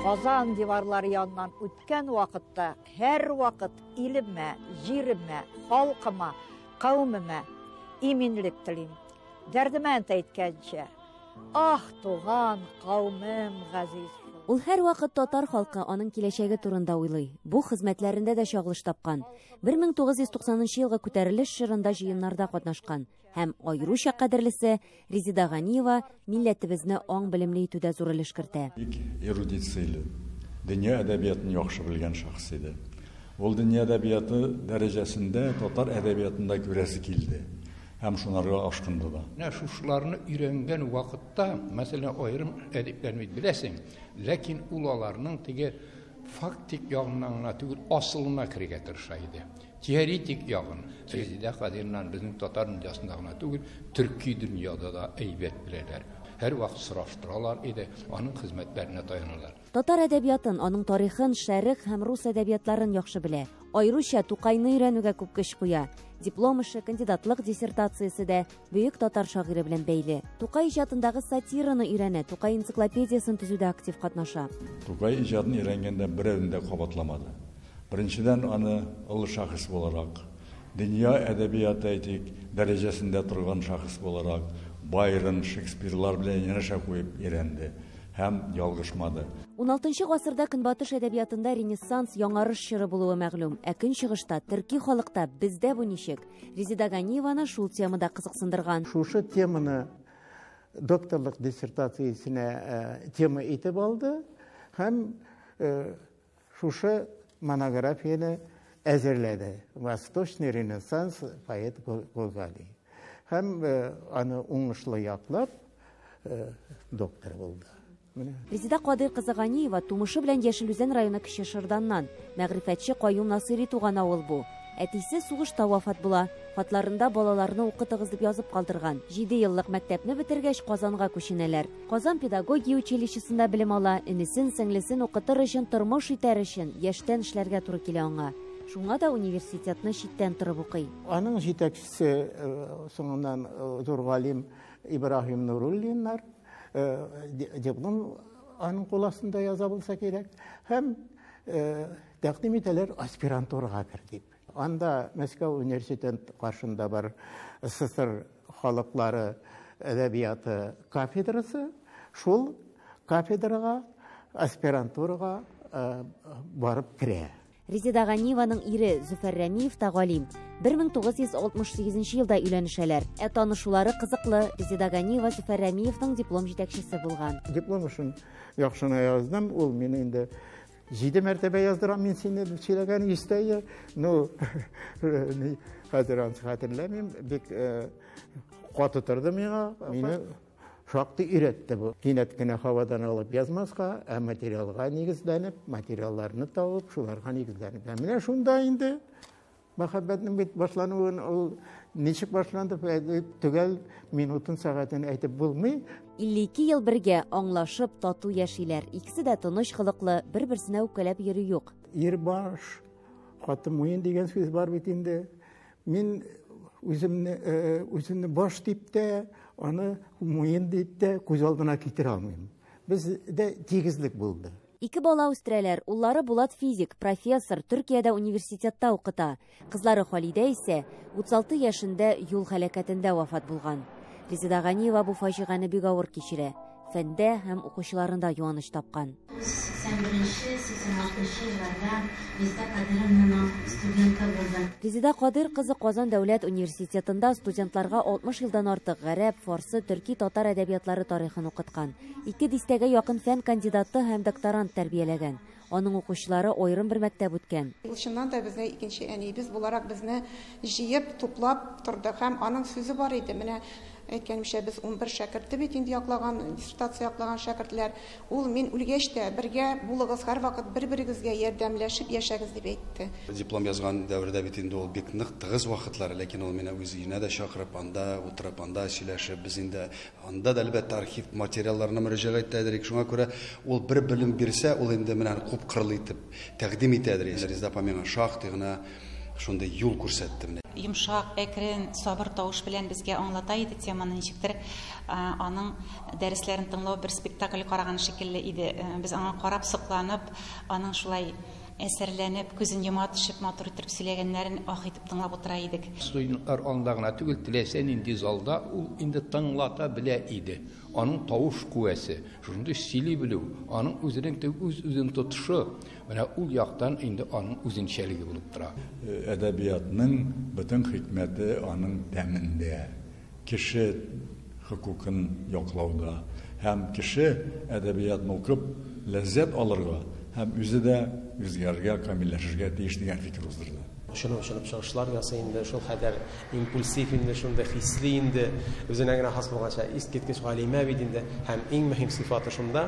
Казан диварлары яннан үткән вакытта һәр вакыт илемә, җиремә, халкыма, кавымыма иминлек телим. Дәрдемән әйткәнчә, ах, туган, кавымым газиз. Ул һәр вакыт татар халкы аның киләчәге турында уйлый. Бу хезмәтләрендә дә чагылыш тапкан. 1990 елгы күтәрелеш чорында җыеннарда катнашкан. Һәм, аеруча кадерлесе, Резеда Ганиева милләтебезне аң белемле итүдә зур өлеш кертә. Бик эрудит сыйлы, дөнья әдәбиятын яхшы белгән шәхес иде. Ул дөнья әдәбияты дәрәҗәсендә татар әдәбиятын да күрәсе килде һәм шунарга ашкынды да. Менә шушыларны өйрәнгән вакытта, мәсәлән, аерым әдипләрне бит беләсең, ләкин ул аларның теге фактик ягыннан гына түгел, асылына керергә тырыша иде. Теоретик ягын Резеда Хәзирнан безнең татар дөньясында гына түгел, төрки дөньяда да әйбәт беләләр. Һәрвакыт сораштыралар иде, аның хезмәтләренә таяналар. Татар әдәбиятын, аның тарихын, шәрык һәм рус әдәбиятларын яхшы белә. Аеруча Тукайны өйрәнүгә күп көч куя. Диплом эше, кандидатлык диссертациясе дә бөек татар шагыйре белән бәйле. Тукай иҗатындагы сатираны өйрәнә, Тукай энциклопедиясен төзүдә актив катнаша. Тукай иҗатын өйрәнгәндә берәүне дә кабатламады. Беренчедән, аны олы шәхес буларак, дөнья әдәбияты, әйтик, дәрәҗәсендә торган шәхес буларак, Байрон, Шекспирлар белән янәшә куеп өйрәнде һәм ялгышмады. Уналтынчы гасырда Көнбатыш әдәбиятында Ренессанс, Яңарыш чоры булуы мәгълүм. Ә Көнчыгышта, төрки халыкта, бездә бу ничек? Резеда Ганиеваны шул тема да кызыксындырган. Шушы теманы докторлык диссертациясенә э, тема итеп алды һәм э, шушы монографияне әзерләде. Восточный ренессанс поэт Гогали. Һәм э, аны уңышлы яклап доктор булды. Резеда Кадыйр кызы Ганиева тумышы белән Яшел Үзән районы Кече Шырданнан. Мәгърифәтче Каюм Насыйри туган авыл бу. Әтисе сугышта вафат була. Хатларында балаларны укытыгыз дип язып калдырган. Җиде еллык мәктәпне бетергәч, Казанга күченәләр. Казан педагогия училищесында белем ала, энесен, сеңлесен укытыр өчен, тормыш итәр өчен, яшьтән эшләргә туры килә аңа. Шуңа да университетны читтән торып укый. Аның җитәкчесе соңыннан зур галим Ибраһим Нуруллиннар. диплом аның кул астында яза булса кирәк һәм тәкъдим итәләр аспирантурага кер дип анда мәскәү университет каршында бар ссср халыклары әдәбияты кафедрасы шул кафедрага аспирантурага барып керә Резеда Ганиеваның ире Зөфәр Рәмиев та галим. 1968 елда өйләнешәләр. Ә танышулары кызыклы. Резеда Ганиева Зөфәр Рәмиевның диплом җитәкчесе булган. Диплом өчен яхшына яздым. Ул мине инде җиде мәртәбә яздырам мин сине дип сөйләгән истәе ну хәзер аны хәтерләмим бик каты торды миңа мине Шактый өйрәтте бу. Кинәт кенә һавадан алып язмаска, ә материалга нигезләнеп, материалларны табып, шуларга нигезләнеп. Ә менә шунда инде мәхәббәтнең бит башлануын ул ничек башланды, төгәл минутын, сәгатен әйтеп булмый. 52 ел бергә аңлашып, тату яшиләр. Икесе дә тыныч холыклы, бер-берсенә үпкәләп йөри юк. Ир баш, хатын муен дигән сүз бар бит инде. Мин үземне үземне баш дип тә, аны муен дип тә күз алдына китерә алмыйм. Бездә тигезлек булды. Ике бала үстерәләр, уллары Булат физик, профессор, Төркиядә университетта укыта. Кызлары Халидә исә 36 яшендә юл һәлакәтендә вафат булган. Резеда Ганиева бу фаҗигане бик авыр кичерә. фәндә һәм укучыларында юаныч тапкан. 81-86 елларда Резеда Кадыровнаның студенты булдым. Резеда Кадыр кызы Казан дәүләт университетында студентларга 60 елдан артык гарәп, фарсы, төрки, татар әдәбиятлары тарихын укыткан. Ике дистәгә якын фән кандидаты һәм докторант тәрбияләгән. Аның укучылары аерым бер мәктәп үткән. Ул чыннан да безнең икенче әниебез буларак безне җыеп, туплап торды һәм аның сүзе бар иде, Менә, әйткәнемчә, без унбер шәкерте бит инде яклаган, диссертация яклаган шәкертләр. Ул, Мин үлгәч тә, бергә булыгыз, һәрвакыт бер-берегезгә ярдәмләшеп яшәгез, дип әйтте. Диплом язган дәвердә бит инде ул бик нык тыгыз вакытлар, ләкин ул мине үз өенә дә чакырып, анда утырып, анда сөйләшеп, без инде Анда да, әлбәттә, архив материалларына мөрәҗәгать итә идек. Шуңа күрә ул бер белем бирсә, ул инде менә күп кырлы итеп тәкъдим итә идек. Резда апа миңа шактый гына шундый юл күрсәтте менә. Йомшак, әкрен, сабыр тавыш белән безгә аңлата иде теманы. Ничектер аның дәресләрен тыңлау бер спектакль караган шикелле иде. Без аңа карап сокланып, аның шулай Әсәрләнеп, күзен йома төшеп матур иттереп сөйләгәннәрен аһ итеп тыңлап утыра идек. Студентлар алында гына түгел, теләсә нинди залда ул инде тыңлата белә иде. Аның тавыш куәсе, шундый сөйли белү, аның үзенең теге үз-үзен тотышы, менә ул яктан инде аның үзенчәлеге булып тора. Әдәбиятның бөтен хикмәте аның тәмендә. кеше хокукын яклауда һәм кеше әдәбиятны укып ләззәт алырга һәм үзе дә үзгәрергә, камилләшергә тиеш дигән фикер уздырды. Очынып-очынып чыгышлар ясый инде, шул кадәр импульсив инде, шундый хисли инде, үзенә генә хас булганча, искиткеч галимә бит инде. Һәм иң мөһим сыйфаты шунда,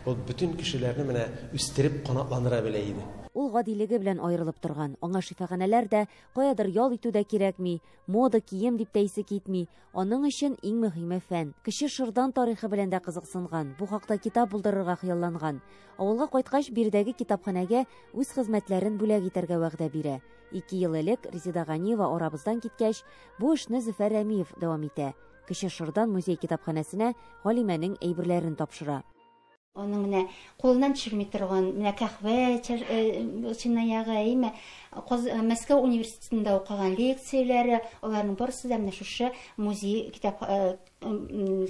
ул бөтен кешеләрне менә үстереп, канатландыра белә иде. Ул гадилеге белән аерылып торган, аңа шифаханәләр дә, каядыр ял итү дә кирәкми, Мода, кием дип тә исе китми. Аның өчен иң мөһиме фән. Кече Шырдан тарихы белән дә кызыксынган, бу хакта китап булдырырга хыялланган. Авылга кайткач, биредәге китапханәгә үз хезмәтләрен бүләк итәргә вәгъдә бирә. Ике ел элек Резеда Ганиева арабыздан киткәч, бу эшне Зөфәр Рәмиев дәвам итә. Кече Шырдан музей китапханәсенә Галимәнең әйберләрен тапшыра. Аның менә кулыннан төшерми торган, менә кәхвә чынаягы, әйеме, Мәскәү университетында укыган лекцияләре, аларның барысы да менә шушы музей китап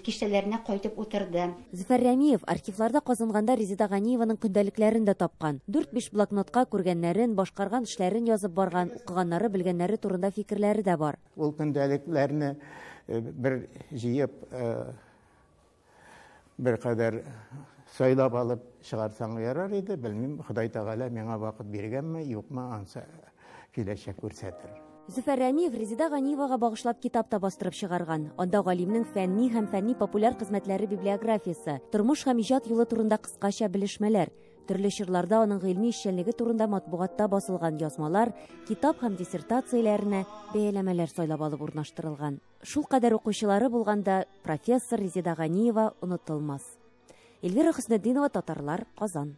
киштәләренә кайтып утырды. Зөфәр Рәмиев архивларда казынганда Резеда Ганиеваның көндәлекләрен дә тапкан. Дүрт-биш блокнотка күргәннәрен, башкарган эшләрен язып барган, укыганнары, белгәннәре турында фикерләре дә бар. Ул көндәлекләрне бер җыеп Беркадәр сайлап алып чыгарсаң ярар иде, белмим, Ходай Тәгалә миңа вакыт биргәнме, юкмы, ансы киләчәк күрсәтер. Зөфәр Рәмиев Резеда Ганиевага багышлап китап та бастырып чыгарган. Анда галимнең фәнни һәм фәнни-популяр хезмәтләре библиографиясе, тормыш һәм иҗат юлы турында кыскача белешмәләр, төрле чорларда аның гыйльми эшчәнлеге турында матбугатта басылган язмалар, китап һәм диссертацияләренә бәяләмәләр сайлап алып урнаштырылган. Шул кадәр укучылары булганда профессор Резеда Ганиева онытылмас. Эльвира Хөснетдинова, Татарлар, Казан.